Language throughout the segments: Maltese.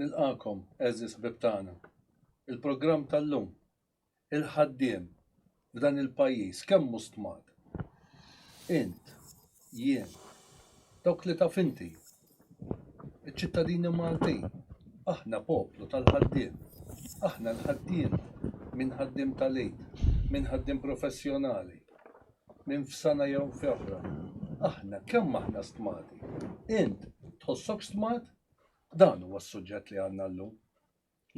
Nilqakom, eżis ħbib tagħna. Il-programm tal-lum, il-ħaddiem f'dan il-pajjiż, kemm hu stmat. Int, jien, dawk li taf inti, Iċ-ċittadini Maltin, aħna poplu tal-ħaddiem. Aħna l-ħaddiema, min ħaddiem tal-Eid, min ħaddiem professjonali, min f'sana jew f'oħra. Aħna, kemm aħna stmati? Int, tħossok stmat? Dan huwa s-suġġett li għandna llum.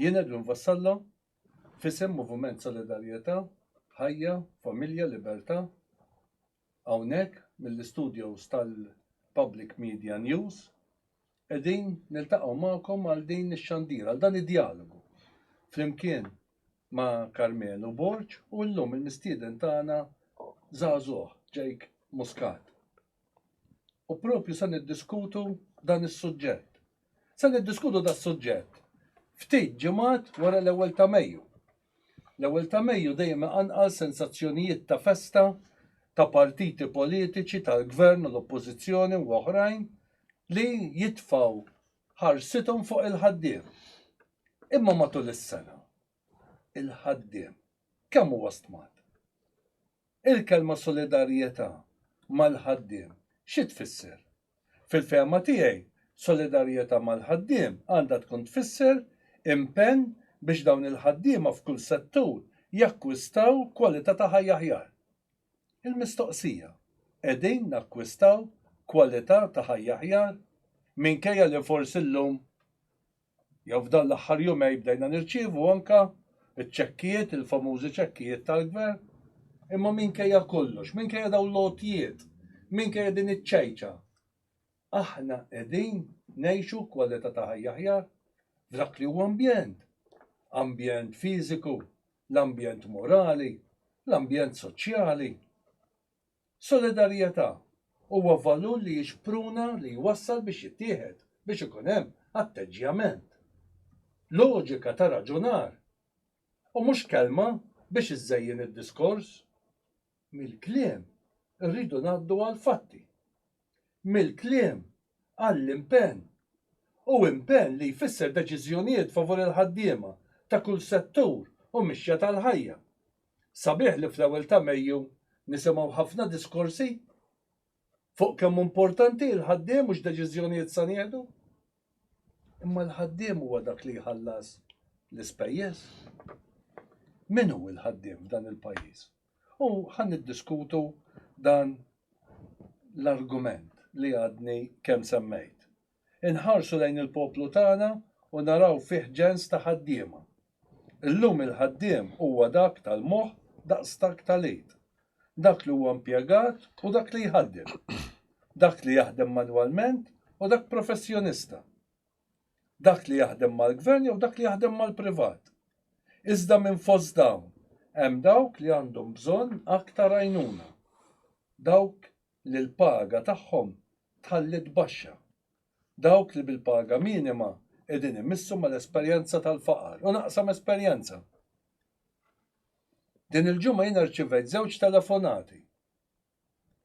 Jien Edwin Vassallo, f'isem Moviment Solidarjetà, Ħajja, Familja, Libertà, Hawnhekk mill-istudios tal-Public Media News qegħdin niltaqgħu magħkom għal din ix-xandira, għal dan id-djalogu. Flimkien ma' Karmenu Borg u llum il-mistieden tagħna żagħżugħ, Jake Muscat. U propju se niddiskutu dan is-suġġett. Se niddiskutu das-suġġett ftit ġimgħat wara l-ewwel ta' Mejju. L-ewwel ta' Mejju dejjem iqanqal sensazzjonijiet ta' festa ta' partiti politiċi tal-Gvern u l-Oppożizzjoni u oħrajn li jitfgħu ħarsithom fuq il-ħaddiem. Imma matul is-sena, il-ħaddiem kemm huwa stmat? Il-kelma solidarjetà mal-ħaddiem xi tfisser? Fil-fehma tiegħi, solidarjetà mal-ħaddiem għandha tkun tfisser impenn biex dawn il-ħaddiema f'kull settur jakkwistaw kwalità ta' ħajja aħjar. Il-mistoqsija, qegħdin nakkwistaw kwalità ta' ħajja aħjar, minkejja li forsi llum jew f'dawn l-aħħar jumej bdejna nirċievu anke ċ-ċekkijiet, il-famużi ċekkijiet tal-Gvern, imma minkejja kollox, minkejja dawn l-għotjiet, minkejja din iċ-ċajċa, aħna qegħdin ngħixu kwalità ta' ħajja aħjar f'dak li hu ambjent, ambjent fiżiku, l-ambjent morali, l-ambjent soċjali. Solidarjetà huwa valur li jixpruna li jwassal biex jittieħed, biex ikun hemm atteġġjament, loġika ta' raġunar, u mhux kelma biex iżżejjen id-diskors. Mill-kliem irridu ngħaddu għall-fatti. mill-kliem għall-impenn u impenn li jfisser deċiżjonijiet favur il-ħaddiema ta' kull settur u mixja tal-ħajja. Sabiħ li fl-ewwel ta' Mejju nisimgħu ħafna diskorsi fuq kemm hu mportanti il-ħaddiem u x'deċiżjonijiet sa nieħdu. Imma l-ħaddiem huwa dak li jħallas l-ispejjeż. Min hu l-ħaddiem f'dan il-pajjiż? U ħa niddiskutu dan l-argument li għadni kemm semmejt. Inħarsu lejn il-poplu tagħna u naraw fih ġens ta' ħaddiema. Illum il-ħaddiem huwa dak tal-moħħ daqs dak tal-id, dak li huwa impjegat u dak li jħaddem, dak li jaħdem manwalment u dak professjonista. dak li jaħdem mal-gvern jew dak li jaħdem mal-privat. Iżda minn fost dawn hemm dawk li għandhom bżonn aktar għajnuna, dawk li l-paga tagħhom tħalliet baxxa, dawk li bil-paga minima qegħdin imissu mal-esperjenza tal-faqar. U naqsam esperjenza. Din il-ġimgħa jiena rċivejt żewġ telefonati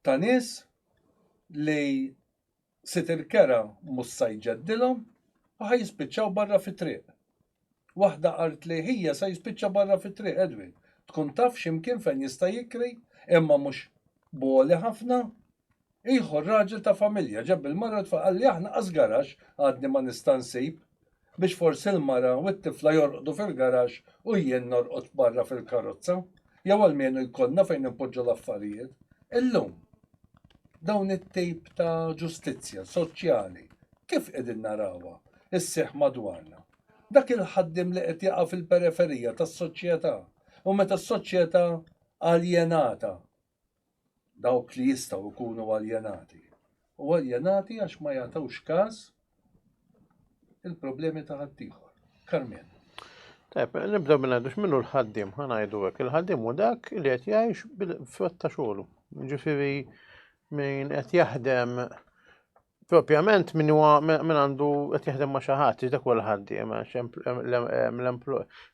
ta' nies li sit il-kera mhux sa jġeddilhom u ħa jispiċċaw barra fit-triq. Waħda qaltli ħija sa jispiċċa barra fit-triq Edwin, tkun taf xi mkien fejn jista' jikri imma mhux b'għoli ħafna. Ieħor raġel ta' familja ġab il-mara u t-tfal qalli aħna qas garaxx għadni ma nista' nsib. biex forsi l-mara u t-tifla jorqdu fil-garaxx u jien norqod barra fil-karozza, jew almenu jkollna fejn inpoġġu l-affarijiet. Illum, dawn it-tip ta' ġustizzja soċjali kif qegħdin narawha sseħħ madwarna? Dak il-ħaddiem li qed jaqa' fil-periferija tas-soċjetà u meta s-soċjetà aljenata dawk li jistgħu jkunu aljenati, u aljenati għax ma jagħtux każ il-problemi ta' ħaddieħor. Karmen. Tajb, nibdew minn għadux minnu l-ħaddim, ħanajdu għek. Il-ħaddim u dak li għet jgħix bil-frott ta' xogħlu. Ġifiri, minn għet jaħdem propjament min huwa min għandu qed jaħdem ma' xi ħadd, dak huwa l-ħaddiem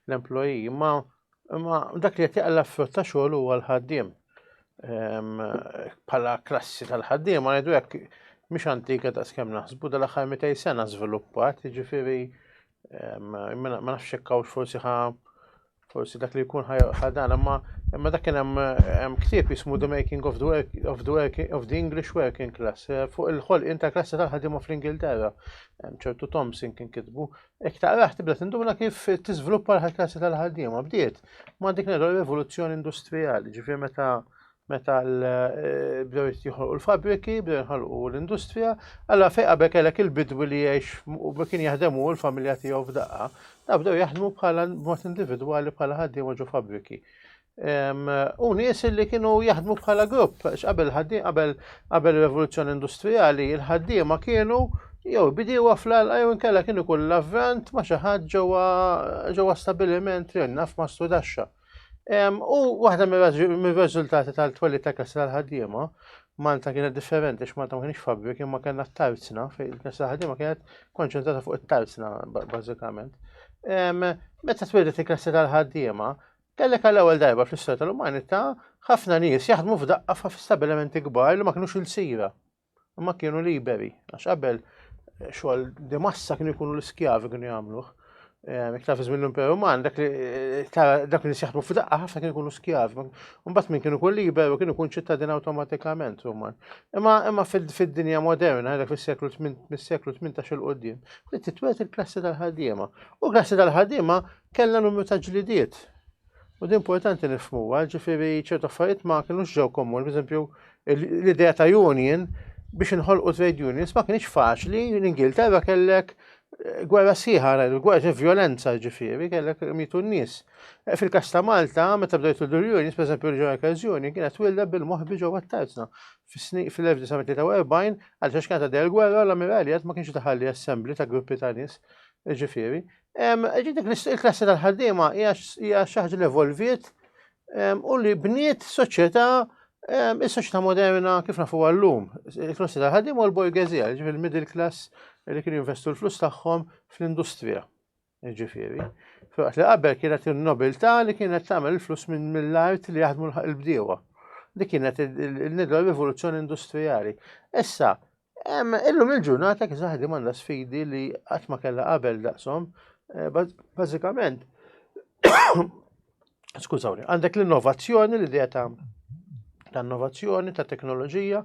l-employee, imma imma dak li qed jaqla frott ta' xogħol huwa l-ħaddiem. Ehm, bħala klassi tal-ħaddiem ma ngħidu hekk mhix antika ta' skemm naħsbu dal-aħħar 200 sena żviluppat, jiġifieri ehm, ma nafx hekk forsi ħa Forsi dak li jkun ħadan, imma imma dak kien hemm ktieb jismu The Making of the, work, of, the work, of the English Working Class eh, fuq il-ħolqien ta' klassi tal-ħaddiema fl-Ingilterra. ċertu Thompson kien kitbu. Ek taqraħ tibda tinduna kif tiżviluppa l-klassi tal-ħaddiema. Bdiet ma' dik l rivoluzzjoni industrijali, ġifier meta meta bdew jitjoħolqu l-fabriki, bdew jinħolqu l-industrija, għalla fej qabel kellek il-bidwi li jgħix u kien jaħdem u l-familja tiegħu f'daqqa, da bdew jaħdmu bħala mod individwali bħala ħaddiema ġo fabriki. U nies li kienu jaħdmu bħala grupp, qabel ħaddiem qabel qabel rivoluzzjoni industrijali, il-ħaddiema kienu jew bidiewa fl-alqa jew inkella kienu kull l-avvant ma xi ħadd ġewwa stabiliment li naf ma studaxxa. U waħda mir-riżultati tal-twelli ta' kasra l-ħaddiema, Malta kienet differenti x'Malta ma kienx fabri kien ma kellna t-tarzna, fejn il-kasra l-ħaddiema kienet konċentrata fuq it-tarzna bażikament. Meta tweldet il-kasra tal-ħaddiema, kellek għall-ewwel darba fl-istorja tal-umanità ħafna nies jaħdmu f'daqqa f'stabilimenti kbar li ma kinux il-sira. Imma kienu liberi, għax qabel eh, xogħol di massa kienu jkunu l-iskjavi kienu jagħmluh. Eh, iktar fi żmien l-Imperu Roman, dak li eh, dak li sjaħbu f'daqqa ħafna kienu jkunu skjavi. Mbagħad min kienu kull liberu kienu jkun ċittadin awtomatikament Roman. Imma imma fid-dinja moderna, dak fis-seklu mis-seklu 18 il qudiem li titwet il-klassi tal-ħaddiema. U klassi tal-ħaddiema kellha numru ta' ġlidiet U din importanti nifmuha, ġifiri ċertu affarijiet ma kienux ġew komuni, per eżempju, l-idea ta' union biex inħolqu trade unions ma kienx faċli, l-Ingilterra kellek eh, gwerra siħa, gwerra violenza ġifiri, kellek mitu n-nis. Eh, Fil-kas ta' Malta, meta bdejt l-unions, per eżempju, l-ġew kazjoni, kienet wilda bil-moħbi ġew għattajtna. Fil-1943, għal xax kanta del gwerra, l-ammiraliet ma kienx taħalli assembli ta' gruppi ta' nis, ġifiri, Ġidik il-klassi tal-ħaddiema hija xi ħaġa li evolviet u li bniet soċjetà is-soċjetà moderna kif nafu għallum. Il-klassi tal-ħaddiema u l-borgezija, ġifi l-middle class li kienu jinvestu l-flus tagħhom fl-industrija. Ġifieri, fil-waqt li qabel kienet il-nobiltà li kienet tagħmel il-flus minn mill-art li jaħdmu l-bdiewa. Dik kienet il-nidwa rivoluzzjoni industrijali. Issa, Illum il-ġurnata kif ħadim għandha sfidi li qatt ma kellha qabel daqshom, eh, bażikament. Skużawni, għandek l-innovazzjoni li dejja ta' ta' innovazzjoni, ta' teknoloġija,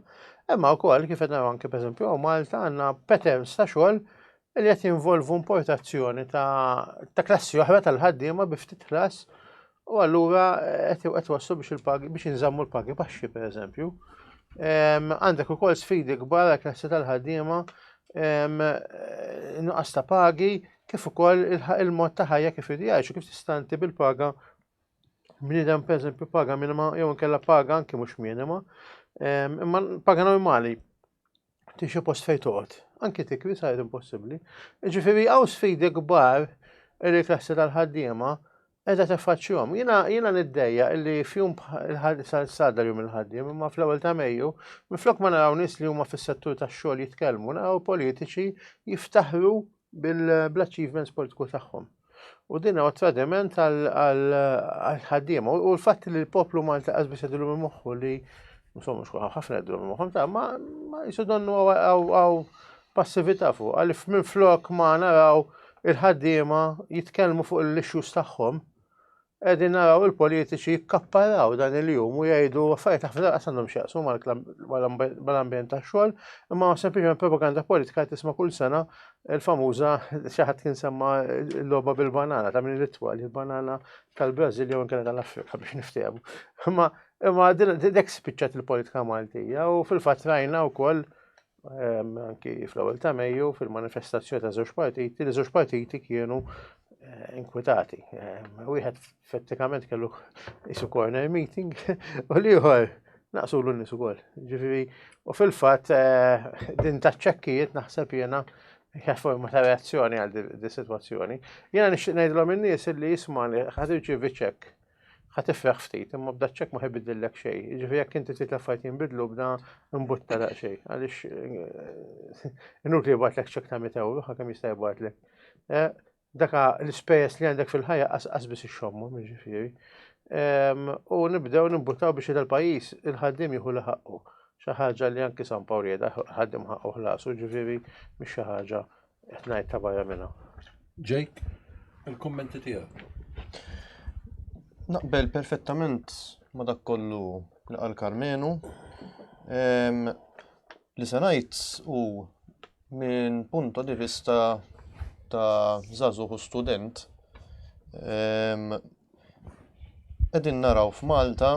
imma wkoll kif qed anke pereżempju Malta għandna patterns ta' xogħol li qed jinvolvu importazzjoni ta' klassi oħra tal-ħaddiema bi ftit ħlas U allura eh, qed wassu biex il-pagi biex inżammu l-pagi baxxi pereżempju. Għandek ukoll sfidi kbar għal klassi tal-ħaddiema eh, nuqqas ta' pagi kif ukoll il-mod ta' ħajja kif idjajxu kif tistanti bil-paga bniedem pereżempju paga minima jew inkella paga anki mhux minima imma paga normali tixi post fejn toqgħod. Anki tikri sajt impossibbli. Ġifieri hawn sfidi kbar il-klassi tal-ħaddiema Qiegħda teffaċċjhom. Jiena jiena niddejja illi fjum sal-sadar jum il-ħaddiem, imma fl-ewwel ta' Mejju, minflok ma naraw nies li huma fis-settur tax-xogħol jitkellmu, naraw politiċi jiftaħru bil-achievements politiku tagħhom. U din huwa tradiment għal-ħaddiem. U l-fatt li l-poplu Malta qasbis jidhru minn moħħu li insomma xkuħa ħafna jidhru minn moħħhom ta' ma jisu donnu għaw passività fuqha li minflok ma naraw il-ħaddiema jitkellmu fuq l-issues tagħhom, qegħdin naraw il-politiċi jikkapparaw dan il-jum u jgħidu affarijiet ħafna daqas għandhom x'jaqsmu mal-ambjent tax-xogħol, imma sempliċement propaganda politika qed tisma' kull sena il-famuża xi ħadd kien semma l-logħba bil-banana ta' min l-ittwal, il-banana tal-Brażil jew inkella tal-Afrika biex niftehmu. Imma imma dek spiċċat il-politika Maltija u fil-fatt rajna wkoll anki fl-ewwel ta' Mejju fil-manifestazzjoni ta' żewġ partiti, li żewġ partiti kienu eh, inkwitati. Wieħed effettivament kellu isu corner meeting u liħor naqsu l nies ukoll. Ġifieri, u fil-fatt eh, din ta' ċekkijiet naħseb jiena hija forma ta' reazzjoni għal di sitwazzjoni. Jiena nixtieq ngħidlhom in-nies li jisma' li ħad irċievi ċekk Ħa tifraħ ftit, imma b'da ċek ma ħibidillek xejn. Jiġifieri jekk inti trid l-affarijiet jinbidlu b'da imbutta daq xejn, għaliex eh, inut li jibgħatlek ċek ta' 100 euro, ħa kemm jista' jibgħatlek. Eh, daka l-ispejjeż li għandek fil-ħajja qasqas biss ixxommhom, jiġifieri. Ehm, u nibdew nimbuttaw biex il-pajjiż il-ħaddim jieħu li ħaqqu. Xi ħaġa li anki San Pawl jeda ħaddim ħaqqu ħlasu, ġifieri mhix xi ħaġa Qed ngħid ta' barra minn hawn. Jake, il-kummenti tiegħek. Naqbel perfettament ma' dak kollu li qal Karmenu. Li se ngħid u minn punto di vista ta' żagħżugħ u student qegħdin naraw f'Malta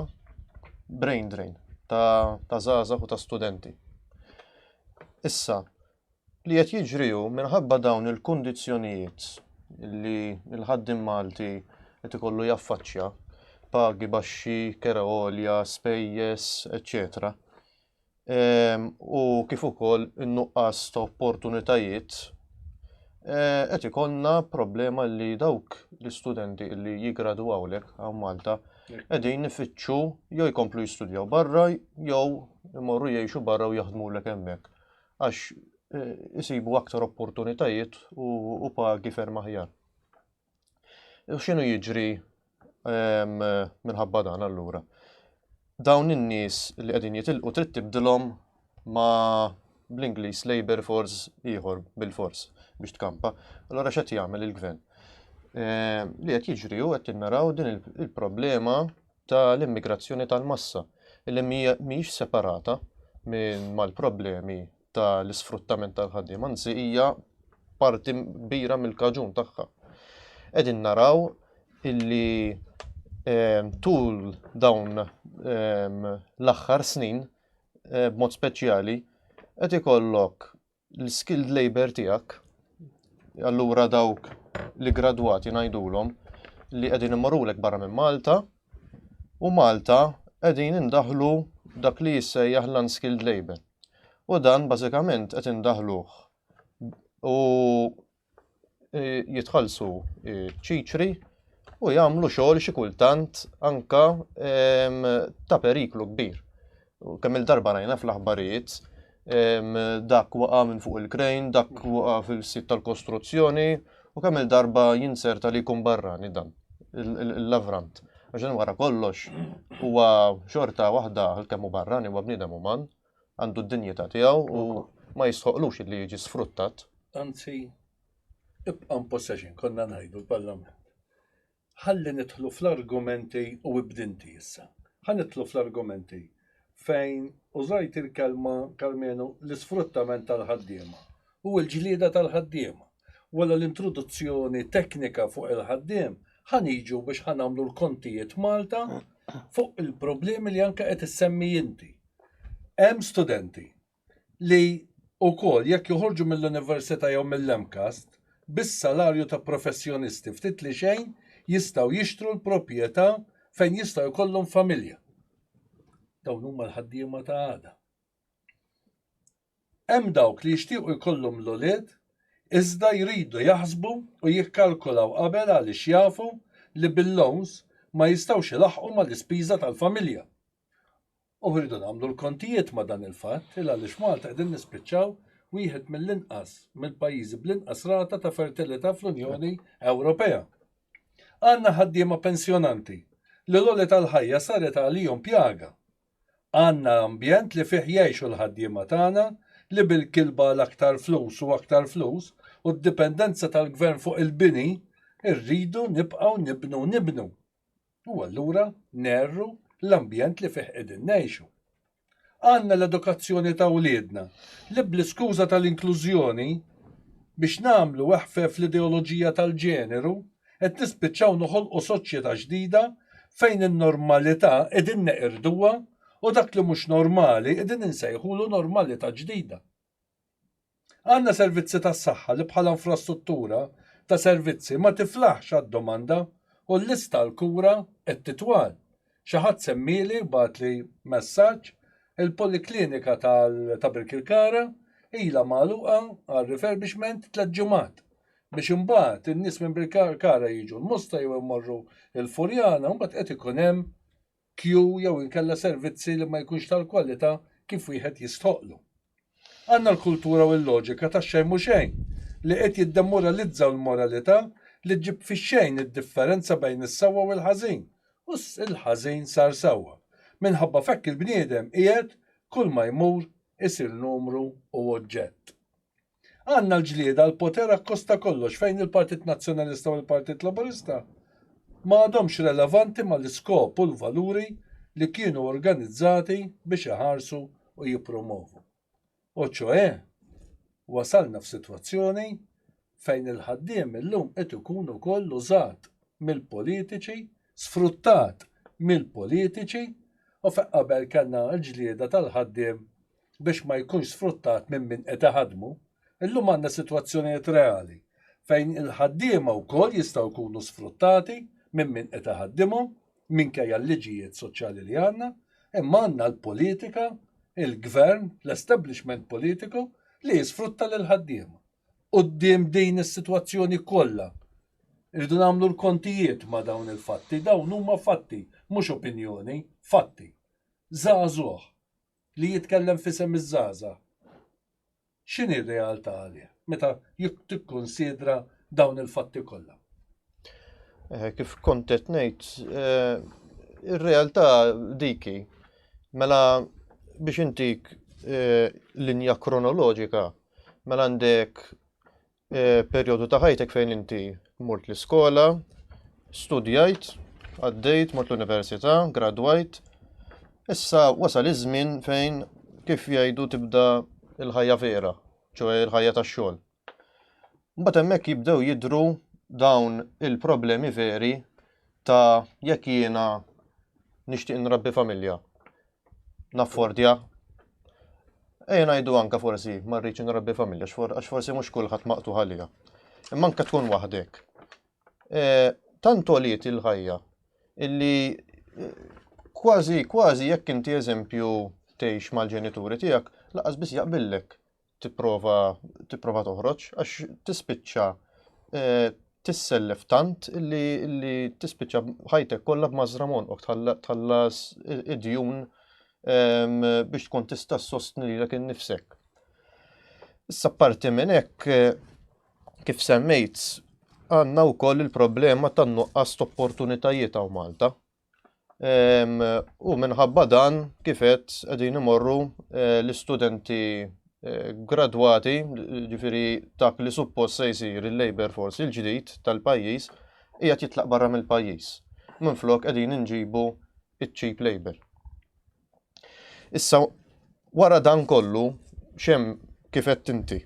brain drain ta' żgħażagħ u ta' studenti. Issa, Li qed jiġri hu minħabba dawn il-kundizzjonijiet li l-ħaddiem Malti qed ikollu jaffaċċja, pagi baxxi, kera għolja, spejjeż, eċċetera u kif ukoll in-nuqqas ta' opportunitajiet, qed ikollna problema li dawk l-istudenti li jiggradwaw hawnhekk hawn Malta qegħdin ifittxu jew jkomplu jistudjaw barra jew imorru jgħixu barra u jaħdmulek hemmhekk. għax isibu aktar opportunitajiet u pagi ferm aħjar. U x'inhu jiġri ehm, minħabba dan allura? Dawn in-nies li qegħdin jitilqu trid tibdilhom ma' bl-Ingliż labor force ieħor bil-fors biex tkampa. Allora x'qed jagħmel il-gvern? Ehm, li qed jiġri u qed tinnaraw din il-problema ta' l-immigrazzjoni tal-massa li mhijiex separata minn mal-problemi ta' l-isfruttament tal-ħaddiem, anzi hija parti kbira mill-kaġun tagħha. Qegħdin naraw illi ehm, tul dawn ehm, l-aħħar snin eh, b'mod speċjali qed ikollok l-skilled labor tiegħek, allura dawk li gradwati ngħidulhom li qegħdin imorulek barra minn Malta u Malta qegħdin indaħlu dak li jissejjaħ l-unskilled labor. U dan bażikament qed indaħluh u jitħallsu ċiċri u jagħmlu xogħol xi kultant anka ta' periklu kbir. Kemm il-darba rajna fl-aħbarijiet dak waqa' minn fuq il-krejn, dak waqa' fil-sit tal-kostruzzjoni u kemm il-darba jinserta li jkun barrani dan l-lavrant. Għaxin wara kollox huwa xorta waħda għal-kemm u barrani huwa bniedem uman għandu d-dinjità tiegħu u ma jistħoqlux li jiġi sfruttat. Anzi, ibqa' possession konna ngħidu l-Parlament. Ħalli nidħlu fl-argumenti u ibdinti issa. Ħalli nidħlu fl-argumenti fejn użajt il-kelma Karmenu l-isfruttament tal-ħaddiema u l-ġlieda tal-ħaddiema. Wara l-introduzzjoni teknika fuq il-ħaddiem, ħaniġu biex ħanamlu l-kontijiet Malta fuq il-problemi li anke qed issemmi inti. Hemm studenti li wkoll jekk joħorġu mill-università jew mill-MCAST bis-salarju ta' professjonisti ftit li xejn jistgħu jixtru l-proprjetà fejn jistgħu jkollhom familja. Dawn huma l-ħaddiema ta' għada. Hemm dawk li jixtiequ jkollhom l-ulied iżda jridu jaħsbu u jikkalkulaw qabel għaliex jafu li bil-loans ma jistgħux ilaħħqu mal-ispiża tal-familja. U rridu nagħmlu l-kontijiet ma' dan il-fatt il għaliex Malta qegħdin nispiċċaw wieħed mill-inqas mill-pajjiżi bl-inqas rata ta' fertilità fl-Unjoni Ewropea. Għandna ħaddiema pensjonanti li l-għoli tal-ħajja saret għalihom pjaga. Għandna ambjent li fih jgħixu l-ħaddiema tagħna li bil-kilba għal aktar flus u aktar flus u d-dipendenza tal-gvern fuq il-bini rridu nibqgħu nibnu nibnu. U allura nerru l-ambjent li fih qegħdin ngħixu. Għandna l-edukazzjoni ta' wliedna li bl-iskuża tal-inklużjoni biex nagħmlu weħfef l-ideoloġija tal-ġeneru qed nispiċċaw noħolqu soċjetà ġdida fejn in-normalità qegħdin neqirduha u dak li mhux normali qegħdin insejħulu normalità ġdida. Għandna servizzi tas-saħħa li bħala infrastruttura ta' servizzi ma tiflaħx għad-domanda u l-lista għall-kura qed titwal. Xi ħadd semmieli, bagħatli messaġġ, il-poliklinika ta' Birkirkara ilha magħluqa għal refurbishment tliet ġimgħat biex imbagħad in-nies minn Birkirkara jiġu l-Mosta jew imorru l-Furjana u mbagħad qed ikun hemm kju jew inkella servizzi li ma jkunx tal-kwalità kif wieħed jistħoqqlu. Għandna l-kultura u l-loġika tax-xejn mhu xejn li qed jiddemoralizzaw l-moralità li ġġib fix-xejn id-differenza bejn is-sewwa u l-ħażin u l-ħażin sar sewwa. Minħabba f'hekk il-bniedem qiegħed, kulma jmur, isir numru u oġġett. Għandna l-ġlieda għal poter akkost ta' kollox fejn il-Partit Nazzjonalista u l-Partit Laburista ma għadhomx relevanti mal-iskop u l-valuri li kienu organizzati biex iħarsu u jippromovu. U ċoe, wasalna f'sitwazzjoni fejn il-ħaddiem illum qed ikun ukoll użat mill-politiċi, sfruttat mill-politiċi u fejn qabel kellna l-ġlieda tal-ħaddiem biex ma jkunx sfruttat minn min qed iħaddmu, illum għandna sitwazzjonijiet reali fejn il-ħaddiema wkoll jistgħu jkunu sfruttati minn min qed iħaddimhom minkejja l-liġijiet soċjali li għandna, imma għandna l-politika, il-gvern, l-establishment politiku li jisfrutta lill-ħaddiema. Quddiem din is-sitwazzjoni kollha irridu nagħmlu l-kontijiet ma' dawn il-fatti, dawn huma fatti, mhux opinjoni, fatti. Żagħżugħ li jitkellem f'isem iż-żgħażagħ, x'inhi r-realtà għalih meta tikkunsidra dawn il-fatti kollha? Eh, kif kont qed ngħid, eh, ir-realtà diki. Mela biex intik eh, linja kronoloġika, mela għandek Eh, perjodu ta' ħajtek fejn inti mort l-iskola, studjajt, għaddejt, mort l-università, gradwajt. Issa wasal iż-żmien fejn kif jgħidu tibda l-ħajja vera, ċoħe l-ħajja tax-xogħol. Mbagħad hemmhekk jibdew jidru dawn il-problemi veri ta' jekk jiena nixtieq nrabbi familja. naffordja. Ejja ngħidu anke forsi ma rridx nrabbi familja għax forsi mhux kulħadd maqtuħ għalija. Imma anke tkun waħdek. E, tant oliet il-ħajja illi e, kważi kważi jekk inti eżempju tgħix mal-ġenituri tiegħek laqas biss jaqbillek tipprova tipprova toħroġ għax tispiċċa eh, tissellef tant li tispiċċa ħajtek kollha b'mażra monqok tħallas id-djun ehm, biex tkun tista' sostni lilek innifsek. Issa parti minn hekk eh, kif semmejt għandna wkoll il-problema tan-nuqqas opportunitajiet hawn Malta. U minħabba dan kifet qegħdin imorru eh, l-istudenti eh, gradwati, ġifiri dak li suppost se jsir il-labor force il-ġdid tal-pajjiż, hija jitlaq barra mill-pajjiż. Minflok qegħdin inġibu iċ-cheap labor. Issa wara dan kollu xem kifet inti.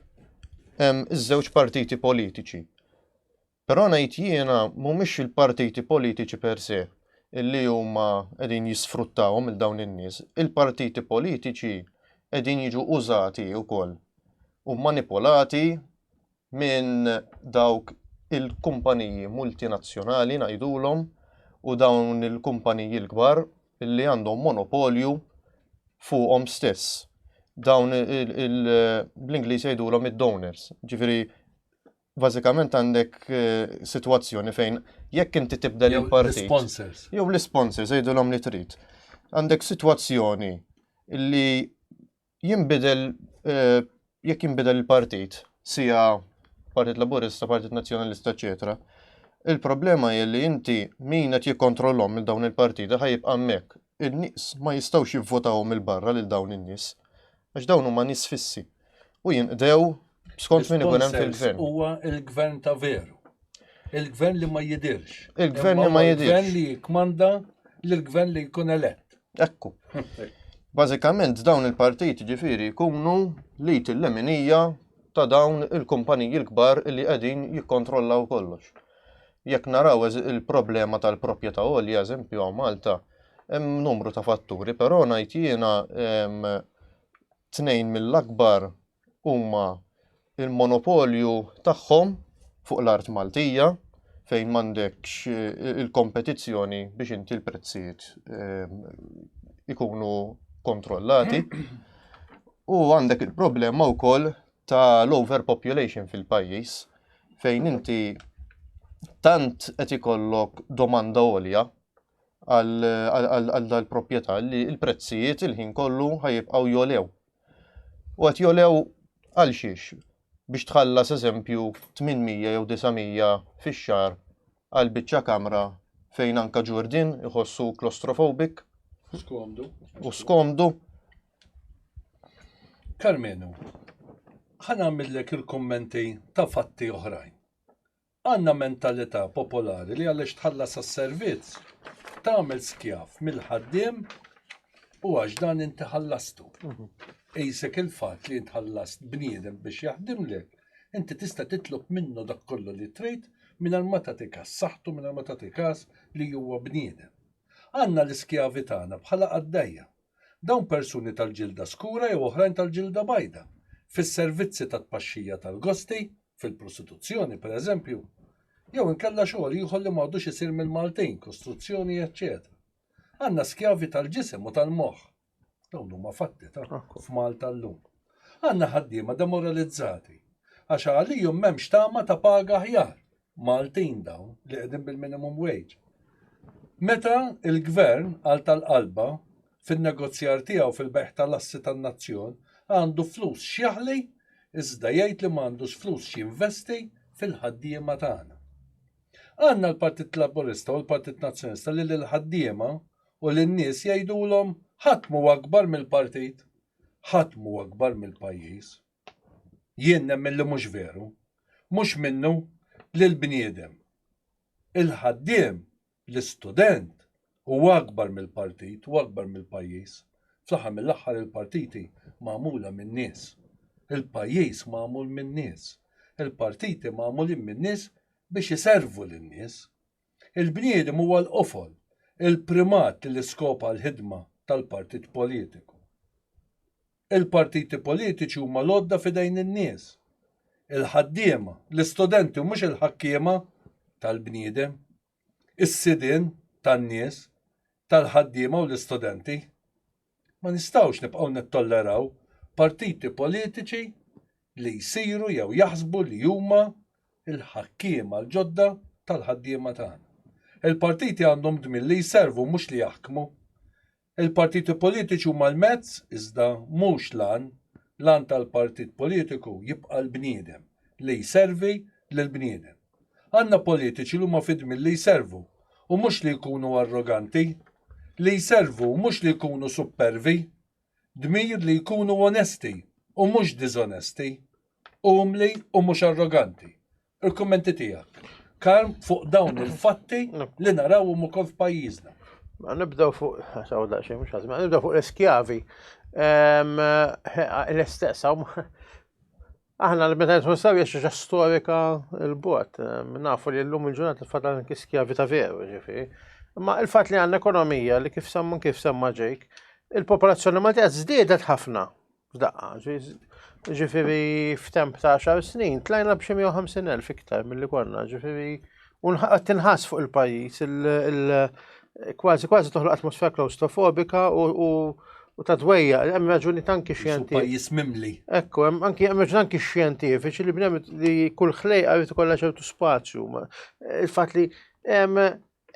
Iż-żewġ partiti politiċi Però ngħid jiena mhumiex il-partiti politiċi per se li huma qegħdin jisfruttawhom il dawn in-nies. Il-partiti politiċi qegħdin jiġu użati wkoll u manipolati minn dawk il-kumpaniji multinazzjonali ngħidulhom u dawn il-kumpaniji l-kbar li għandhom monopolju fuqhom stess. Dawn bl-Ingliż jgħidulhom id-donors, ġifieri bażikament għandek eh, sitwazzjoni fejn jekk inti tibda li partit Sponsors. Jew l-sponsors jgħidulhom li trid. Għandek sitwazzjoni li jinbidel eh, jekk jinbidel il-partit, sija Partit Laburista, Partit Nazzjonalista, eċetera. Il-problema hi li inti min qed jikkontrollhom il dawn il-partiti ħajib hemmhekk. In-nies ma jistgħux jivvotaw mill-barra lil dawn in-nies għax dawn huma nies fissi u jinqdew skont min ikun hemm fil-gvern. Huwa il-gvern ta' veru. Il-gvern li ma jidirx. Il-gvern li ma jidirx. Il-gvern li jikmanda l-gvern li jkun elett. Ekku. Bażikament dawn il-partiti ġifieri jkunu li til-leminija ta' dawn il-kumpaniji l-kbar li qegħdin jikkontrollaw kollox. Jekk naraw il-problema tal-proprjetà għolja, eżempju għaw Malta, hemm numru ta' fatturi, però ngħid jiena tnejn mill-akbar huma il-monopolju tagħhom fuq l-art Maltija fejn m'għandekx il-kompetizzjoni biex inti l-prezzijiet ikunu kontrollati. U għandek il-problema wkoll ta' l-overpopulation fil-pajjiż fejn inti tant qed ikollok domanda għolja għal dal-proprjetà li l-prezzijiet il-ħin kollu ħajibqgħu jolew. U qed jolew għal xiex? Biex tħallas eżempju 800 jew 900 fix-xahar għal biċċa kamra fejn anka ġurdin iħossu klostrofobik. U skomdu. U skomdu. Karmenu, ħa nagħmillek il-kummenti ta' fatti oħrajn. Għandna mentalità popolari li għaliex tħallas għas-servizz tagħmel skjav mill-ħaddiem u għax dan inti ħallastu. Ejsek il-fatt li tħallast bniedem biex jaħdimlek, inti tista' titlob minnu dak kollu li trid mingħajr ma tagħti kas saħħtu mingħajr ma tagħti kas li huwa bniedem. Għandna l-iskjavi tagħna bħala qaddejja. Dawn persuni tal-ġilda skura jew oħrajn tal-ġilda bajda, fis-servizzi ta' tpaxxija tal-gosti, fil-prostituzzjoni, pereżempju, jew inkella xogħol ieħor li m'għadux isir mill-Maltin, kostruzzjoni, eċċetera Għandna skjavi tal-ġisem u tal-moħħ. Dawn huma fatti ta' f'Malta llum. Għandna ħaddiema demoralizzati għax għalihom m'hemmx tama ta' paga aħjar. Maltin dawn li qegħdin bil-minimum wage. Meta il-Gvern għal tal-qalba fin-negozjar tiegħu fil-bejgħ tal-assi tan-nazzjon għandu flus x'jaħli iżda jgħid li m'għandux flus x'jinvesti fil-ħaddiema tagħna. Għandna l-Partit Laburista u l-Partit Nazzjonista li lill-ħaddiema u lin-nies jgħidulhom ħadd mhu akbar mill-partit, ħadd mhu akbar mill-pajjiż. Jien nemmen li mhux veru. Mhux minnu li l-bniedem, il-ħaddiem, l-istudent huwa akbar mill-partit u akbar mill-pajjiż. Fl-aħħar mill-aħħar il-partiti magħmula min-nies. Il-pajjiż magħmul min-nies. Il-partiti magħmulin min-nies biex iservu lin-nies. Il-bniedem huwa l-qofol, il-primat li l-iskop għall-ħidma tal-partit politiku. Il-partiti politiċi huma l-għodda f'idejn in-nies, il-ħaddiema, l-istudenti u mhux il-ħakkiema tal-bniedem, is-sidien tan-nies, tal-ħaddiema u l-istudenti. Ma nistgħux nibqgħu nittolleraw partiti politiċi li jsiru jew jaħsbu li huma l-ħakkiema l-ġodda tal-ħaddiema tagħna. Il-partiti għandhom dmir li jservu mhux li jaħkmu. Il-partiti politiċi huma l-mezz, iżda mhux l-għan. L-għan tal-partit politiku jibqa' l-bniedem, li jservi lill-bniedem. Għandna politiċi li huma fid-dmir li jservu, u mhux li jkunu arroganti. Li jservu u mhux li jkunu suppervi. Dmir li jkunu onesti u mhux diżonesti. Umli u mhux arroganti. Il-kummenti tiegħek. Karm fuq dawn il-fatti li narawhom ukoll f'pajjiżna. Ma nibdew fuq, saw daqxie, mux għazma, nibdew fuq l-eskjavi. L-istess, aħna l-meta jitħu saw jiex storika l-bot, nafu li l-lum il-ġurnat l-fatan kiskjavi ta' veru, ġifi. Ma il-fat li għanna ekonomija li kif sammun kif samma ġejk, il-popolazzjoni ma tgħaz zdiedet ħafna. F'daqqa, ġifiri f'temp ta' xar snin, tlajna b'xi 150.000 iktar mill-li konna, ġifiri, un tinħas fuq il-pajis, kważi kważi toħloq atmosfera klaustrofobika u u ta' dwejja, hemm raġuni tanki xjenti. Pajjiż mimli. Ekku, hemm anki hemm raġuni tanki xjentifiċi li bnem li kull ħlejqa jrid ikollha ċertu spazju. Il-fatt li hemm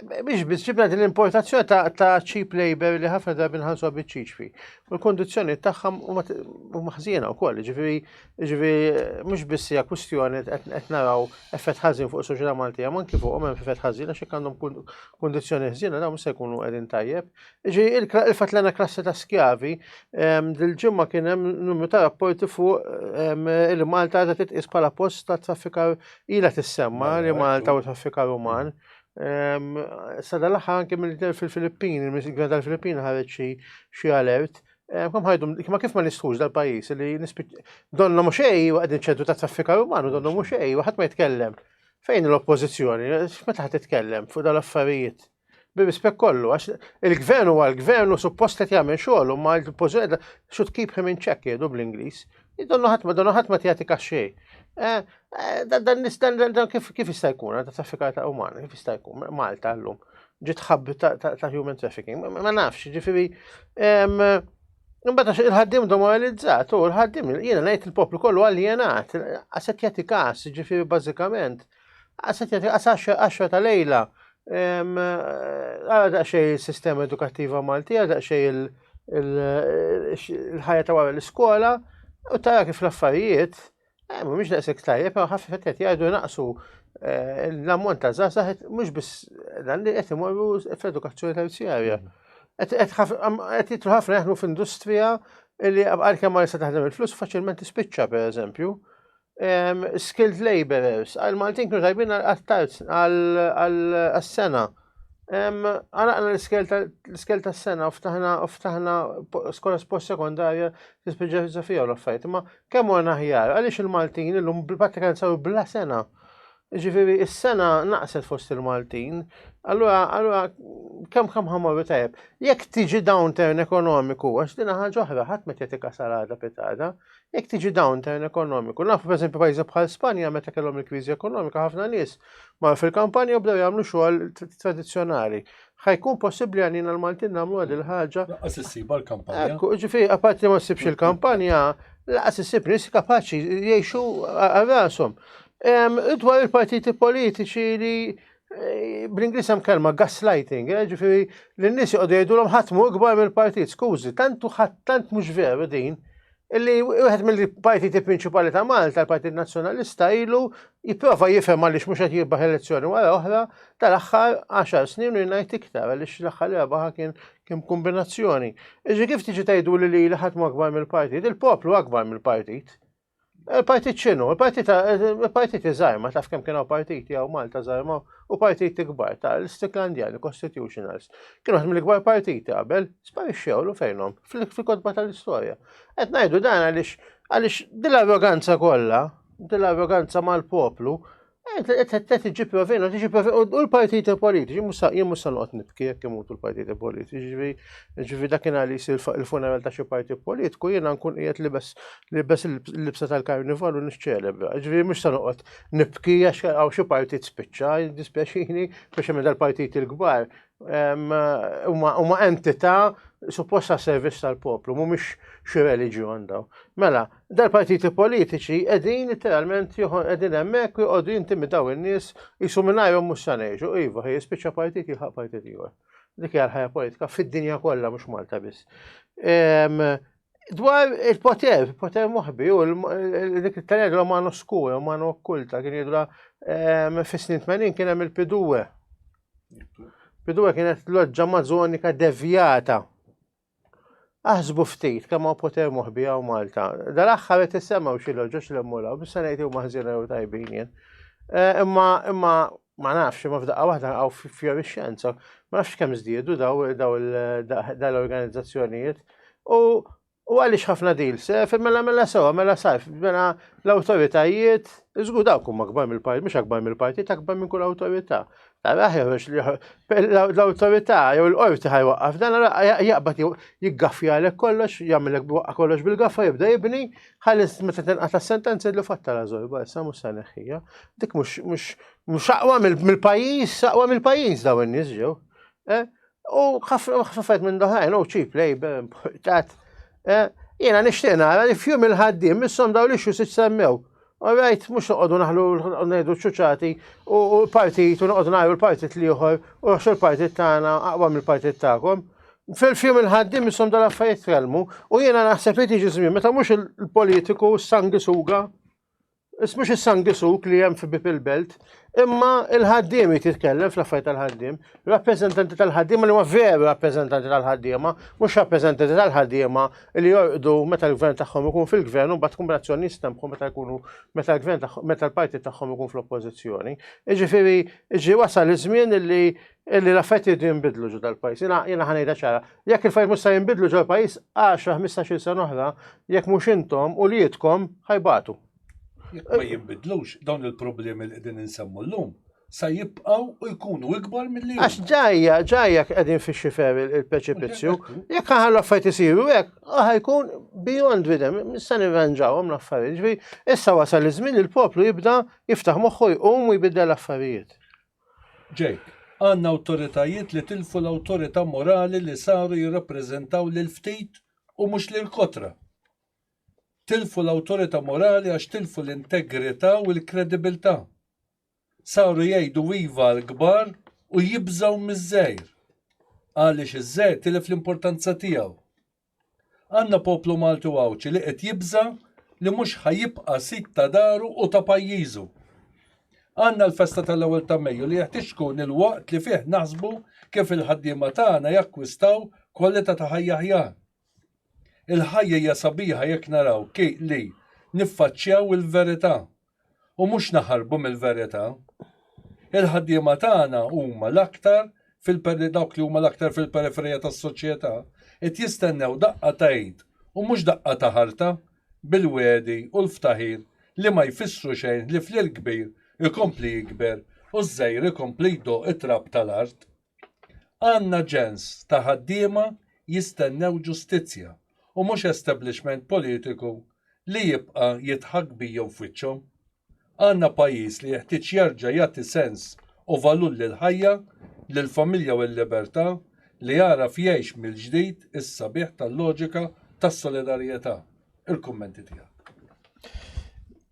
Biex biex ġibna din l-importazzjoni ta' cheap labor li ħafna drabi nħallsu biċċiċ fi. U l-kondizzjoni tagħhom huma ħżiena wkoll, ġifieri ġifieri mhux biss hija kwistjoni qed naraw effett ħażin fuq is-soċjetà Maltija, ma anki fuqhom hemm effett ħażin għax jekk għandhom kondizzjoni ħżiena dawn se jkunu qegħdin tajjeb. Ġifieri il-fatt li klassi ta' skjavi ehm, dil-ġimgħa kien hemm numru ta' rapporti fuq ehm, il-Malta għadha titqis bħala post ta' traffikar ilha tissemma li Malta u traffikar uman. Sada l-aħħar anke mill-gvern fil-Filippin, il-gvern tal-Filippin ħareġ xi alert. Kom ħajdum, ma kif ma nistħux dal-pajis li donna mhux ej għadin ċentru ta' traffika umanu, donna mhux ej, waħad ma jitkellem. Fejn l-oppożizzjoni, meta ħad titkellem fuq dal-affarijiet? bi rispett kollu, għax il-gvern u għal-gvern u suppost qed jagħmel xogħol u ma l-pożizzjoni should keep him in check jgħidu bl-Ingliż. Donnu ħadd ma donnu ħadd ma tjagħti kaxxej. Eh, eh, dan nistan dan kif kif jista' jkun ta' traffikar ta' umana, kif jista' jkun Malta llum ġiet ħabbi ta' human trafficking, ma nafx, ġifieri Imbagħad il-ħaddim demoralizzat u l-ħaddim jiena ngħid il-poplu kollu għaljenat, għaset jagħti każ, ġifieri bażikament. Għaxra ta' lejla, għara daqxej il-sistema edukattiva Malti, għara daqxej il-ħajja ta' wara l-iskola, u tara kif l-affarijiet, eh, mux daqsek tajjeb, pero ħafna fettet jgħidu naqsu eh, l-ammont ta' zazax, mux bis dan li għet imorru fl-edukazzjoni terzjarja. Għet jitlu ħafna jaħnu f'industrija li għal-kem ma' taħdem il-flus faċilment tispiċċa, per eżempju. skilled laborers, għal Maltin kienu tajbin għal-tarz, għal-sena. Għalaqna l-skel ta' sena, ftaħna, ftaħna skola spost sekondarja, t-spieġa filosofija u l-affajt. Ma kemm għana ħjar, għalix il-Maltin l-lum bil-patrikanza u bla sena. Jiġifieri s-sengħa naqset fost il-Maltin, allura allura kemm kemm ħamorru tajjeb. Jekk tiġi downturn ekonomiku, għax din ħaġa oħra ħadd ma jagħti kasarada pitada, jekk tiġi downturn ekonomiku, nafu pereżempju pajjiżi bħal Spanja meta kellhom il-kriżi ekonomika ħafna nies mar fil-kampanja u bdew jagħmlu xogħol tradizzjonali. Ħajkun possibbli għalina l-Maltin nagħmlu għad il-ħaġa. Laqas issiba l-kampanja. Ekku, ġifieri apart li ma ssibx il-kampanja, laqas issib nies kapaċi jgħixu għal rashom. Dwar il-partiti politiċi li eh, bl-Inglis hemm kelma gaslighting, eh, ġifieri li n-nies joqogħdu jgħidulhom ħadd mhu ikbar mill-partit, skużi, tant ħadd tant mhux veru din. Illi wieħed mill-partiti prinċipali ta' Malta, l-Partit Nazzjonalista, ilu jipprova jifhem għaliex mhux qed jibbaħ elezzjoni wara oħra tal-aħħar 10 snin u jingħid iktar għaliex l-aħħar rebaħa kien kien kombinazzjoni. Iġi kif tiġi tgħidu li li ħadd akbar mill-partit, il-poplu akbar mill-partit. Il-partit xinu, il-partit iżgħar, ma taf kemm kienu partiti għaw Malta żgħar ma u partiti kbar ta' l-Stiklandjani, Constitutionals. Kienu għad mill-kbar partiti qabel, sparixxew l fejnom, fil-kodba tal-istorja. Qed ngħidu dan għaliex għaliex dil-arroganza kollha, dil-arroganza mal-poplu, Tiġi provina, tiġi provina, u l-partiti politiċi, jien musa noqgħod nibki jekk imutu l-partiti politiċi, ġivi dakin għalli jisir il-funeral ta' xi partit politiku, jiena nkun qiegħed li bes li bes l-libsa tal-karnival u niċċelebra. Ġivi mhux sa noqgħod nibki għax għaw xi partit spiċċa, dispjaċini, biex hemm dal-partiti l-kbar. Huma entità supposta servizz tal-poplu, mhumiex xi reliġjon daw. Mela, Dal-partiti politiċi qegħdin literalment joħon qegħdin hemmhekk u jqogħdu jintimidaw in-nies jisu mingħajrhom mhux sa ngħixu. Iva, ħi jispiċċa partit jilħaq partit ieħor. Dik hija l-ħajja politika fid-dinja kollha mhux Malta biss. Dwar il-poter, il-poter moħbi, u dik il-tened romano skura, romano okkulta, kien jidra fis-snin 80 kien hemm il-piduwe. Piduwe kienet loġġa mażonika devjata. Aħsbu ftit kemm hawn poter moħbi hawn Malta. Dal-aħħar qed issemgħu xi loġoġ li mmulaw, biex se ngħid huma ħżiena jew tajbin jien. Eh, imma imma ma nafx, imma f'daqqa waħda għaw fjorixxenza, ma nafx kemm żdiedu daw dal-organizzazzjonijiet. U U għalix ħafna dil, sef, mela mela sewa, mela sajf, mela l-autoritajiet, zgu daw kum akbar mill-partit, mux akbar mill-partit, akbar minn kull autorita. Għaraħ jħarġ li l-autorità jew l-qorti ħajwaqqaf dan jaqbad jiggaffja għalek kollox, jagħmilek waqqa kollox bil-gaffa jibda jibni, ħalli meta tinqata' sentenza jidlu fatta la żorba issa mhux se neħħija. Dik mhux mhux aqwa mill-pajjiż, aqwa mill-pajjiż daw in-nies ġew. Eh? U ħafna minn doħrajn, u ċip labor importat. Eh, Jena nishtiq nara li fjum il-ħaddim, missom daw li xu semmew. Alright, mux noqodu naħlu nejdu ċuċati u l-partit u noqodu naħlu l-partit liħor u għax l-partit tagħna aqwa mill-partit tagħkom. Fil-fjum il-ħaddim missom dal affarijiet kelmu u jiena naħseb li tiġi żmien meta mhux il-politiku s-sangi suga Is mhux is-sangisuk li hemm fi bib il-belt, imma il-ħaddiem jitkellem fl-affarijiet tal-ħaddiem, rappreżentanti tal-ħaddiema li huma veru rappreżentanti tal-ħaddiema, mhux rappreżentanti tal-ħaddiema li jorqdu meta l-gvern tagħhom ikun fil-gvern u mbagħad kombinazzjoni jistempħu meta jkunu meta l-gvern meta l-partit tagħhom ikun fl-oppożizzjoni. Jiġifieri ġi wasal iż-żmien li illi l-affetti jiddu jimbidlu ġo dal-pajis. Jena jena ħanejda ċara. Jekk il-fajt musta jimbidlu ġo l-pajis, 10-15 sena oħra, jekk mux intom u li jitkom ħajbatu. Jekk ma jimbidlux, dawn il-problemi li qegħdin insemmu l-lum, sa jibqaw u jkunu ikbar mill-li. Għax ġajja, ġajja qegħdin fi xifer il-preċipizju, jekk ħan l-affajt isiru, jekk ħajkun beyond videm, nista' nirranġawhom l-affarijiet. Issa wasal iż-żmien il-poplu jibda jiftaħ moħħu jqum u jbidda l-affarijiet. Jake, Għandna awtoritajiet li tilfu l-awtorità morali li saru jirrappreżentaw lill-ftit u mhux lill-kotra. Tilfu l-awtorità morali għax tilfu l-integrità u l-kredibilità. Saru jgħidu iva għall-kbar u jibżgħu miż-żgħir. Għaliex iż-żgħir tilef l-importanza tiegħu. Għandna poplu Malti u Għawdxi li qed jibża' li mhux ħa jibqa' sid ta' daru u ta' pajjiżu. Għandna l-festa tal-ewwel ta' Mejju li jeħtieġ tkun il-waqt li fih naħsbu kif il-ħaddiema tagħna jakkwistaw kwalità ta' ħajja aħjar. Il-ħajja hija sabiħa jekk naraw li niffaċċjaw il-verità u mhux naħarbu mill-verità. Il-ħaddiema tagħna huma l-aktar dawk li huma l-aktar fil-periferija tas-soċjetà qed jistennew daqqa ta' id u mhux daqqa ta' ħarta bil-wegħdi u l-ftaħir li ma jfissru xejn ħlief li l-kbir ikompli jikber u ż-żgħir ikompli jdoqq it-trab tal-art. Għandna ġens ta' ħaddiema jistennew ġustizzja u mhux establishment politiku li jibqa' jidħak bijhom f'wiċċhom. Għandna pajjiż li jeħtieġ jerġa' jagħti sens u valur lill-ħajja, lill-familja u l-libertà li jagħraf jgħix mill-ġdid is-sabiħ tal-loġika tas-solidarjetà. Il-kummenti tiegħek.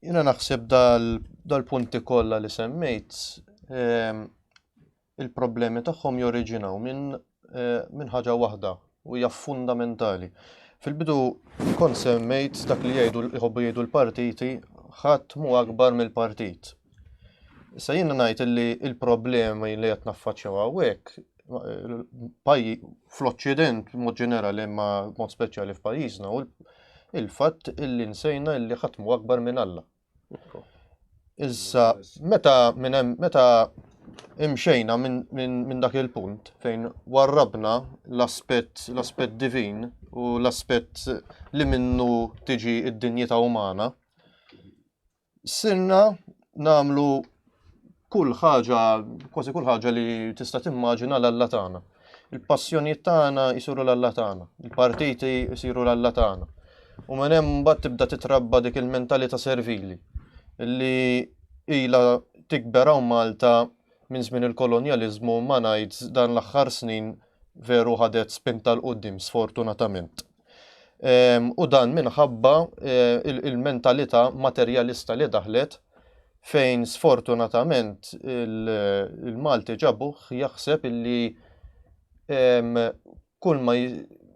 Jiena naħseb dal-punti kollha li semmejt il-problemi tagħhom joriġinaw minn minn ħaġa waħda u hija fundamentali. Fil-bidu kont semmejt dak li jgħidu jħobbu jgħidu l-partiti ħadd mu akbar mill-partit. Issa jien ngħid li l-problemi li qed naffaċċjaw hawnhekk pajji fl-Oċċident mod ġenerali imma mod speċjali f'pajjiżna u il-fatt illi nsejna illi ħadd mu akbar minn Alla. Issa, meta minn hemm meta imxejna minn dak il-punt fejn warrabna l-aspett l-aspett divin u l-aspett li minnu tiġi id-dinjità umana, sirna namlu Kull ħaġa, kważi kull ħaġa li tista' timmaġina l-Alla tagħna. Il-passjonijiet tagħna jsiru l-Alla tagħna, il-partiti jsiru l-Alla tagħna. U minn hemm mbagħad tibda titrabba dik il-mentalità servili li ila tikber hawn Malta minn żmien il-kolonjaliżmu ma ngħid dan l-aħħar snin veru ħadet spinta l qudiem sfortunatament. Ehm, u dan minħabba eh, il-mentalità materjalista li daħlet fejn sfortunatament il-Malti ġabuħ jaħseb illi ehm, kull ma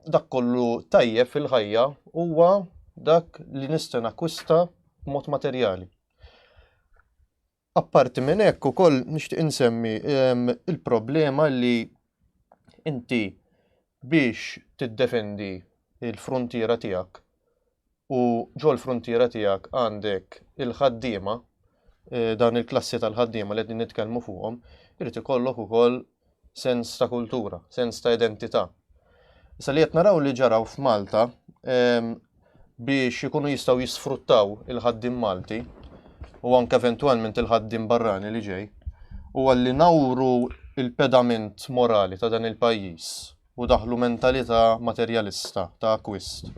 dak kollu tajjeb fil-ħajja huwa dak li nista' nakwista mod materjali. Apparti minn hekk ukoll nixtieq insemmi il-problema li inti biex tiddefendi l-fruntiera tiegħek u ġol-fruntiera tiegħek għandek il-ħaddiema, dan il-klassi tal-ħaddiema li qegħdin nitkellmu fuqhom, irid ikollok ukoll sens ta' kultura, sens ta' identità. Issa li qed naraw li ġaraw f'Malta ehm, biex ikunu jistgħu jisfruttaw il-ħaddim Malti u anke eventwalment il-ħaddim barrani li ġej, u għalli nawru il-pedament morali ta' dan il-pajjiż u daħlu mentalità materjalista ta' akwist.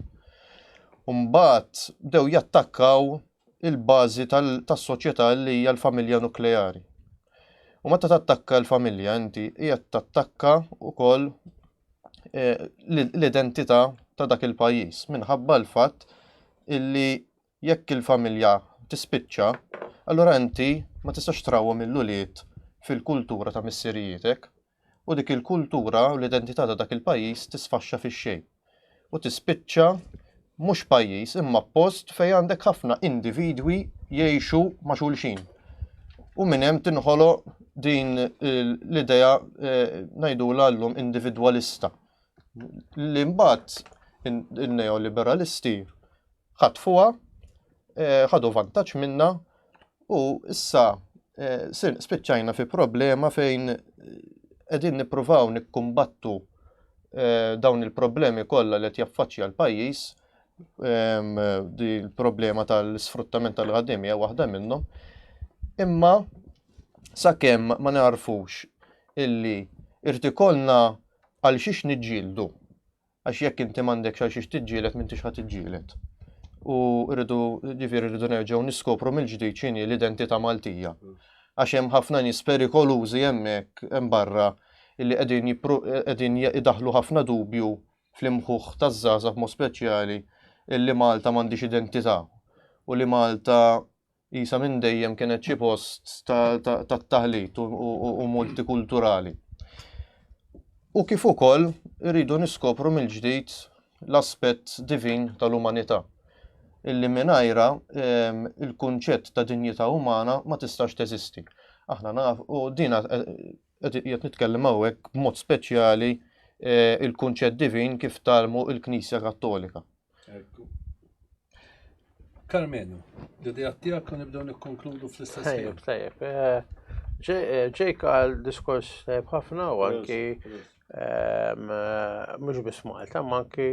Umbagħad bdew jattakkaw il-bażi tas-soċjetà li hija l-familja nukleari. U meta tattakka l-familja inti hija tattakka wkoll eh, l-identità ta' dak il-pajjiż minħabba l-fatt illi jekk il-familja tispiċċa, allura inti ma tistax trawhom il-ulied fil-kultura ta' missirijitek, u dik il-kultura u l-identità ta' dak il-pajjiż tisfaxxa fix-xejn u tispiċċa mhux pajjiż imma post fejn għandek ħafna individwi jgħixu ma' xulxin. U minn hemm tinħolo din l-idea eh, ngħidulha llum individwalista li mbagħad in-neoliberalisti ħatfuha, eh, ħadu vantaġġ minna u issa eh, spiċċajna fi problema fejn eh, qegħdin nippruvaw nikkumbattu dawn il-problemi kollha li qed jaffaċċja l-pajjiż di l-problema tal-sfruttament tal-ħaddim hija waħda minnhom. Imma sakemm ma narfux illi irtikolna Għalxiex niġġieldu? Għax jekk inti m'għandekx għalxiex tiġġieled m'intix ħa tiġġieled. U rridu ġifieri rridu nerġgħu niskopru mill-ġdid x'inhi l-identità Maltija. Għax hemm ħafna nies perikolużi hemmhekk hemm barra illi qegħdin qegħdin idaħlu ħafna dubju fl-imħuħ taż-żgħażagħ mod speċjali illi Malta m'għandhiex identità u li Malta Qisha minn dejjem kienet xi post tat-taħlit u multikulturali. U kif ukoll irridu niskopru mill-ġdid l-aspett divin tal-umanità, illi mingħajrha ehm, il-kunċett ta' dinjità umana ma tistax teżisti. Aħna naf, u dina eh, qed nitkellem hawnhekk b'mod speċjali eh, il-kunċett divin kif talmu il-Knisja Kattolika. Ekku. Karmenu, l-idea tiegħek kan nibdew nikkonkludu fl-istess Tajjeb, tajjeb. Eh, Ġejk eh, għal diskors tajjeb ħafna u anki ehm, eh, mhux biss Malta, ma anki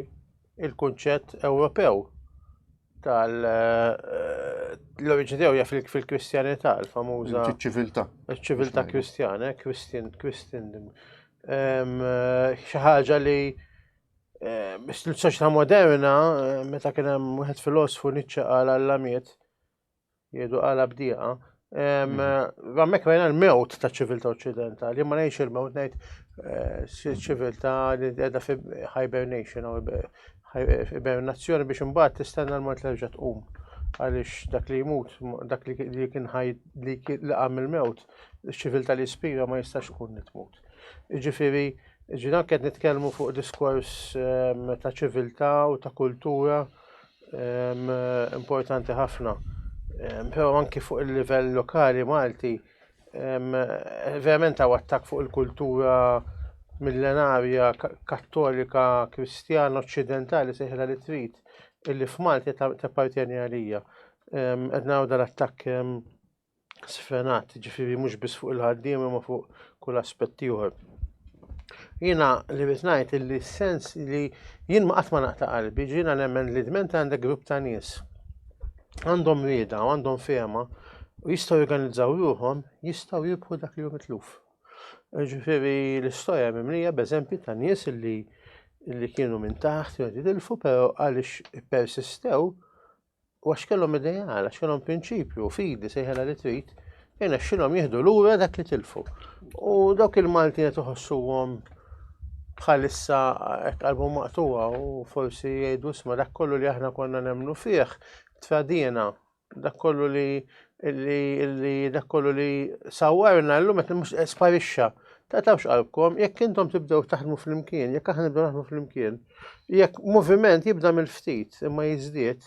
il-kunċett Ewropew tal l-oriġini tiegħu jaf fil-Kristjanità, l-famuża ċiviltà. Ċiviltà Kristjana, Kristin, Kristin. Ehm, xi ħaġa li Biex l-soċjetà moderna, meta kien hemm wieħed filosfu Nietzsche qal alla miet, jgħidu qala bdieqa, Għammek mm. rajna l-mewt ta' ċivilta occidentali, ma nejx il-mewt nejt eh, ċivilta li edha fi hibernation, hibernazzjoni biex imbagħad tistenna l-mort li rġa' tqum. Għaliex dak li jmut, dak li kien ħaj li għam il-mewt, ċivilta li spira ma jistax kun tmut. Jiġifieri, ġifieri anke qed nitkellmu fuq diskors ehm, ta' ċiviltà u ta' kultura ehm, importanti ħafna. Ehm, però anke fuq il-livell lokali Malti, verament għaw attak fuq il-kultura millenarja kattolika kristjana occidentali seħla li trid illi f'Malti tappartjeni għalija. Qed naraw dal-attakk sfenat, ġifiri mhux biss fuq il-ħaddiem imma fuq kull aspett ieħor. Jiena li rrid ngħid illi sens li jien ma qatt ma naqta' qalbi, ġiena nemmen li dment għandek grupp ta' nies għandhom rieda u għandhom fehma u jistgħu jorganizzaw ruħhom jistgħu jibħu dak li hu mitluf. Ġifieri l-istorja mimlija b'eżempji ta' nies illi li kienu minn taħt jgħidu dilfu, pero għalix persistew U għax kellhom ideal, għax kellhom prinċipju, fidi sejħela li trid, jena xilhom jieħdu lura dak li tilfu. U dawk il-Malti qed iħossuhom bħalissa qalbu maqtuwa u forsi jgħidu sma dak kollu li aħna konna nemnu fih tradina dak kollu li li dak kollu li sawarna llum qed mhux sparixxa. Tatawx qalbkom jekk intom tibdew taħdmu flimkien, jekk aħna nibdew naħdmu flimkien, Jekk moviment jibda mill-ftit imma jiżdied,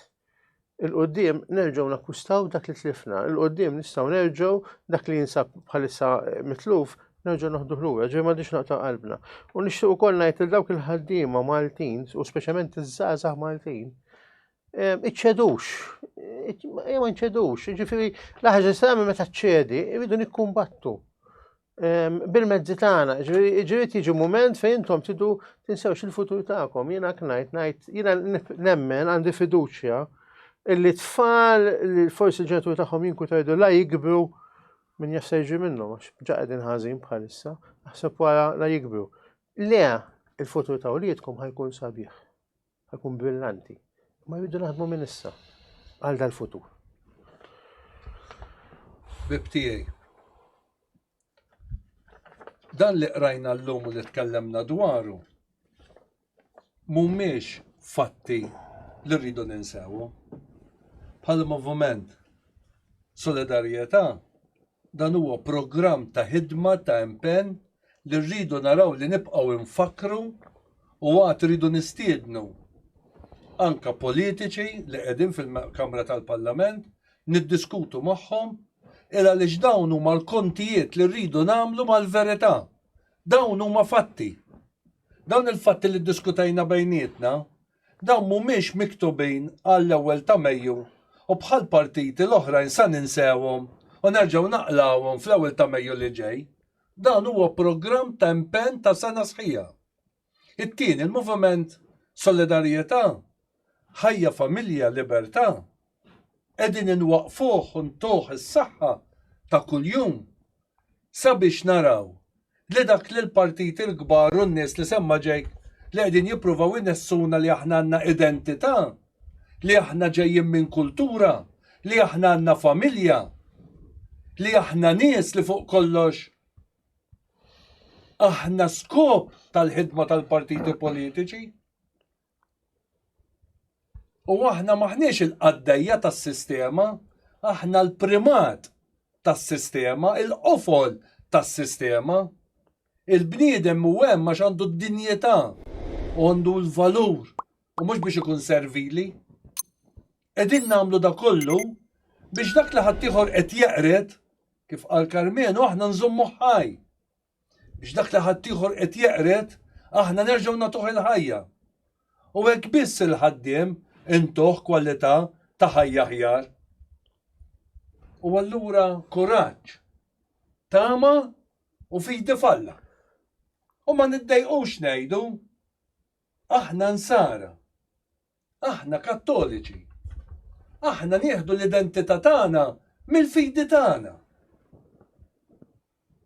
il-qoddim nerġgħu nakkustaw dak li tlifna, il-qoddim nistgħu nerġgħu dak li jinsab bħalissa mitluf nerġgħu naħdu ħlura, ġej ma diċ naqta' qalbna. U nixtieq ukoll ngħid li dawk il-ħaddiema Maltin, u speċjalment iż-żgħażagħ Maltin, ehm, iċċedux, ma iċċedux, ġifieri l-ħaġa se meta ċċedi, irridu nikkumbattu. bil-mezzi tagħna, ġiri tiġi mument fejn intom tidu tinsewx il-futur tagħkom. Jiena knajt ngħid, jiena nemmen għandi fiduċja illi tfal li forsi ġenetur tagħhom jinku tajdu la jikbru minn jassejġi minnhom għax ġa qegħdin ħażin bħalissa, naħseb wara la jikbru. Le, il-futur ta' uliedkom ħajkun sabiħ. Ħakun brillanti. Ma jridu naħdmu minn issa għal dal-futur. Bib tiegħi. Dan li qrajna llum u li tkellemna dwaru mhumiex fatti li rridu ninsewu. Bħal moviment solidarjetà dan huwa programm ta' ħidma ta' impenn li rridu naraw li nibqgħu infakkru u għad rridu nistiednu anke politiċi li qegħdin fil-Kamra tal-Parlament niddiskutu magħhom il għaliex dawn huma l-kontijiet li rridu nagħmlu mal-verità. Dawn huma fatti. Dawn il-fatti li ddiskutejna bejnietna dawn mhumiex miktubin għall-ewwel ta' Mejju u bħal partiti l-oħrajn sa ninsewhom u nerġgħu naqlgħuhom fl-ewwel ta' Mejju li ġej. Dan huwa programm ta' impenn ta' sena sħiħa. It-tieni, il-moviment Solidarjetà, Ħajja, Familja, Libertà, qegħdin inwaqqfuh u ntuh is-saħħa ta' kuljum sabiex naraw li dak li l-partiti l-kbar u n-nies li semma Jake li qegħdin jippruvaw inessuna li aħna għandna identità, li aħna ġejjin minn kultura, li aħna għandna familja, li aħna nies li fuq kollox aħna skop tal-ħidma tal-partiti politiċi. U aħna maħniex il-qaddejja tas-sistema, aħna l-primat tas-sistema, il-qofol tas-sistema. Il-bniedem u hemm għax għandu d-dinjità, għandu l-valur u mhux biex ikun servili. Qegħdin nagħmlu da kollu biex dak li ħaddieħor qed jeqred, kif qal Karmenu, aħna nżommuh ħaj. Biex dak li ħaddieħor qed jeqred, aħna nerġgħu nagħtuh il-ħajja. U hekk biss il-ħaddiem intuh kwalità ta' ħajja aħjar. U allura kuraġġ, tama u fidi f'Alla. U ma niddejqux ngħidu. Aħna Nsara. Aħna Kattoliċi. Aħna nieħdu l-identità tagħna mill-fidi tagħna.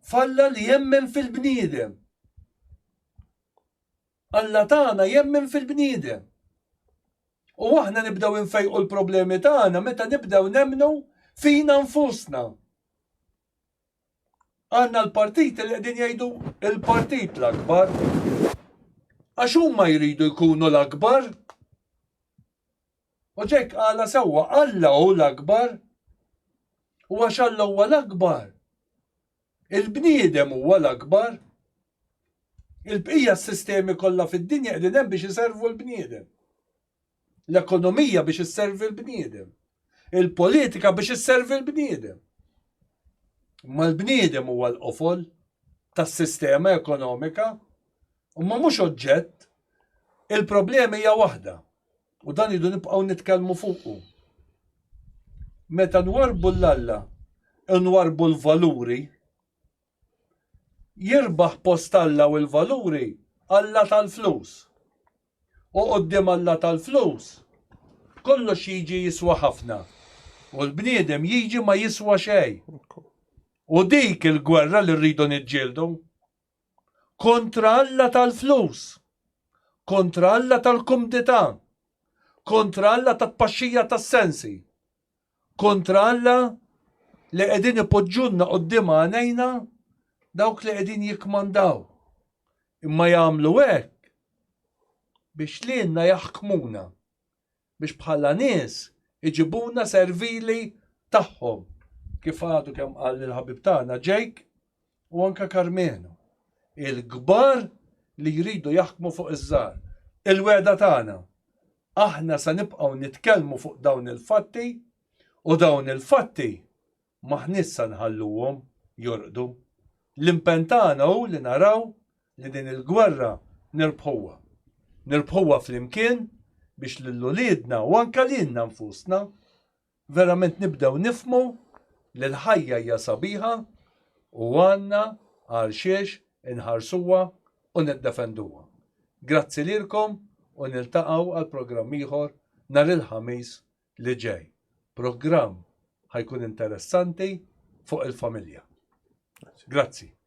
F'Alla li jemmen fil-bniedem. Alla tagħna jemmen fil-bniedem. U aħna nibdew infejqu l-problemi tagħna meta nibdew nemnu fina nfusna. Għandna l-partiti li qegħdin jgħidu il-partit l-akbar. Għax huma jridu jkunu l-akbar. U ġek għala sewwa Alla hu l-akbar. U għax Alla huwa l-akbar. Il-bniedem huwa l-akbar. Il-bqija s-sistemi kollha fid-dinja qegħdin hemm biex iservu l-bniedem. L-ekonomija biex isservi l-bniedem. Il-politika biex isservi l-bniedem. Ma l-bniedem huwa l-qofol tas-sistema ekonomika, ma mhux oġġett. Il-problema hija waħda u dan idu nibqgħu nitkellmu fuqu. Meta nwarbu l-Alla, nwarbu l-valuri Jirbaħ post Alla u l-valuri Alla tal-flus. U quddiem Alla tal-flus, kollox jiġi jiswa ħafna. U l-bniedem jiġi ma jiswa xejn. U dik il-gwerra li rridu niġġieldu. Kontra Alla tal-flus. Kontra Alla tal-kumdità. Kontra Alla tat-tpaxxija tas-sensi. kontra Alla li qegħdin ipoġġulna quddiem għajnejna dawk li qegħdin jikkmandaw. Imma jagħmlu hekk biex lilna jaħkmuna, biex bħala nies iġibuna servili tagħhom. Kif għadu kemm qal il-ħabib tagħna Jake, u anke Karmenu, il-kbar li jridu jaħkmu fuq iż-żgħar. Il-wegħda tagħna, aħna se nibqgħu nitkellmu fuq dawn il-fatti u dawn il-fatti m'aħniex se nħalluhom jorqdu. L-impenn tagħna hu li naraw li din il-gwerra nirbħuha. Nirbħuha flimkien biex lil uliedna u anke lilna nfusna Verament nibdew nifhmu li l-ħajja hija sabiħa u għandna għalxiex inħarsuha u niddefenduha. Grazzi lilkom u niltaqgħu għal programm ieħor nhar il-Ħamis li ġej. Programm ħa jkun interessanti fuq il-familja. Grazzi.